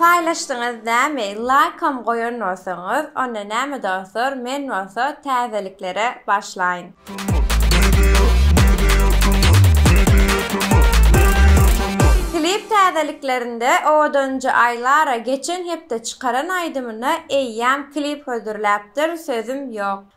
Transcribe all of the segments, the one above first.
Paýlaşdyňyz näme laýkam goýan bolsaňyz onda näme dostlar men bolsa täzeliklere başlaýyn. Klip täzeliklerinde owadanjy Aýlara geçen hepde çykaran aýdymyna eýýäm klip hödürläpdir sözüm ýok.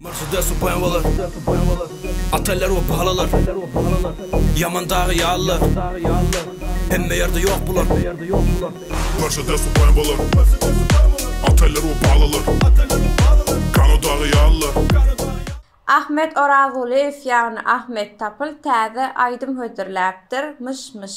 Mercedes we BMW-ler Otteller we palalar Ýaman dagy ýalylar Hemme ýerde ýok bular Mercedes we BMW-ler Otteller we palalar Gano dagy ýalylar Ahmet Orazulyýew ýagny Ahmet Tapyl täze aýdym hödürläpdir, myş myş.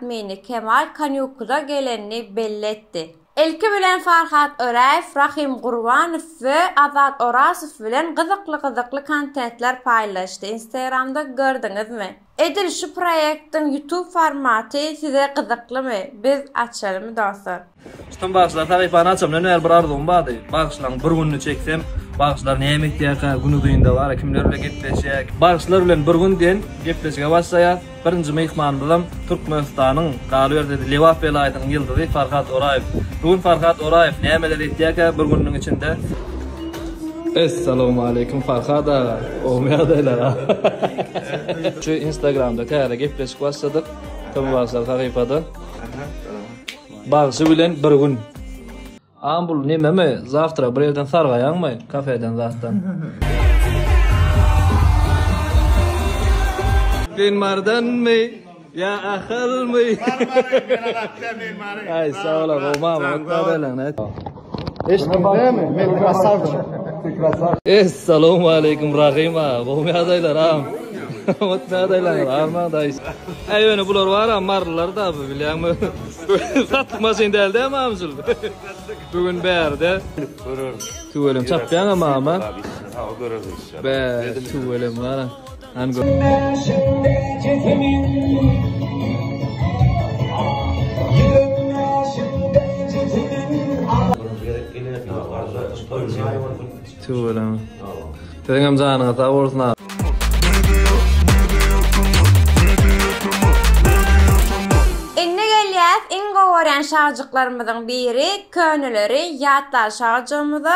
ädmini Kemal Kanýukuza gelenini belli etdi. Ilki bilen Farhat Öräýew, Rahym Gurbanow we Azat Orazow bilen gyzykly-gyzykly kontentler paýlaşdy. Instagramda gördiňizmi? Edil şu proýektiň YouTube formaty size gyzyklymy? Biz açalymy dostlar. Tutan bagşylar sahypany açamdan bäri bir arzuwym bardy. Bagşylaryň bir gününi çeksem, bagşylar näme etýärkä, günuzynda bara kimler bilen gepleşýär. Bagşylar bilen bir gün diýen gepleşige başlaýas. Birinji myhmanymyzam Türkmenistanyň, galyberse-de Lebap welaýatynyň ýyldyzy Farhat Oraýew. Bu gün Farhat Oraýew nämeler etýärkä bir gününiň içinde? Essalawmaleýkum Farhat aga. Gowymy ýagdaýlar aga? Şu instagramda täze gepleşik başladyk. Tm bagşylar sahypada. Bagşy bilen bir gün. Aman bul nememi zawtra bir ýerden sargaýaňmy kafeden zatdan. Sen mardanmy ýa ahylmy. Aý sag ola gowy mamat. Essalamu aleýkum Rahym aga. Gowy ýagdaýlar agam. Ot ýagdaýlar arman daýyş. Äý ýöne bular bara marylar da bu bilýäňmi? Satlyk maşyn däl dä mamjul. Bu gün bärde. Tüwelem çapýaňam agam ha? Bä tüwelem gara. Tüweleme. Siziňem janyňyz sag bolsun aga. Indi gelýäs iň gowy görýän şagjyklarymyzyň biri, köneleri ýatlaly şagjygymyza.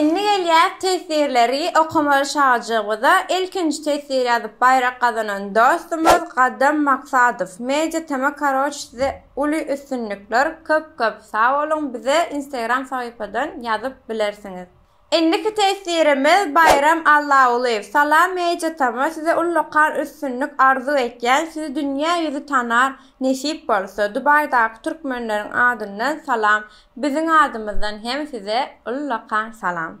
Indi gelýäs teswirleri okamaly şagjygymyza ilkinji teswir ýazyp baýrak gazanan dostumyz Gadam Maksadow Media tm karoç size uly üstünlikler köp köp sag boluň bize instagram sahypadan ýazyp bilersiňiz Indiki teswirimiz Baýram Allagulyýew. Salam Mejit atama size ullakan üstünlik arzuw etýän sizi dünýä ýüzi tanar nesip bolsa Dubaýdaky türkmenleriň adyndan salam biziň adymyzdan hem size ullakan salam.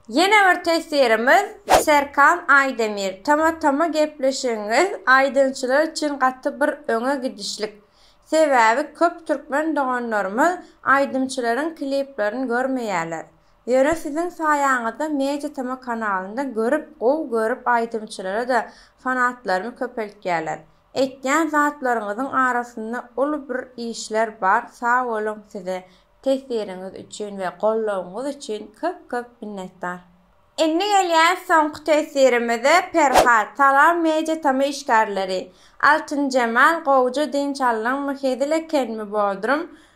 Ýene bir teswirimiz Serkan Aýdemir tama tama gepleşigiňiz aýdymçylar üçin gaty bir öňe gidişlik sebäbi köp türkmen doganlarymyz aýdymçylaryň kliplerini görmeýärler Ýöne siziň saýaňyzda Media Tama kanalynda görüp gowy görüp aýdymçylara da fanatlarymy köpeltýäler. Etýän zatlaryňyzyň arasynda uly bir işler bar sag boluň size tesiriňiz üçin we goldawyňyz üçin köp köp minnetdar. Indi gelýär soňky tesirimize Perhat Salam Media Tama işgärleri Altynjemal gowja dynç aldyňmy hezil ekenmi Bodrum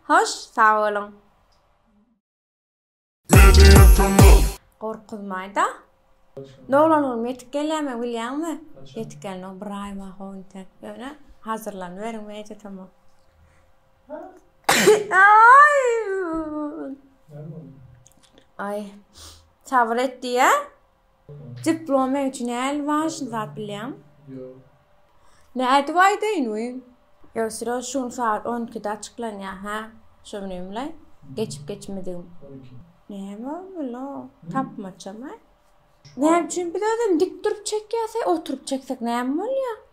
Hoş sag boluň. Media kanal. Gorkuzmaýda. Doglanygym ýetip gelýärmi bilýäňmi? Ýetip gelmegi bir aý bar ho indi. Ýöne hazyrlanyberiň media kanal. Aý. Aý. Sabyr et diýýä. Diplom men üçin äl wažny zat bilýäň. Ne aýdyp aýdaýyn we ösüre şu gün sagat on ikide açyklanýar hä şo bilenle geçip geçmedigim. Näme bula tapmaçam hä. Näme üçin biz özem dik durup çekýäs hä oturyp çeksek näme bolýar.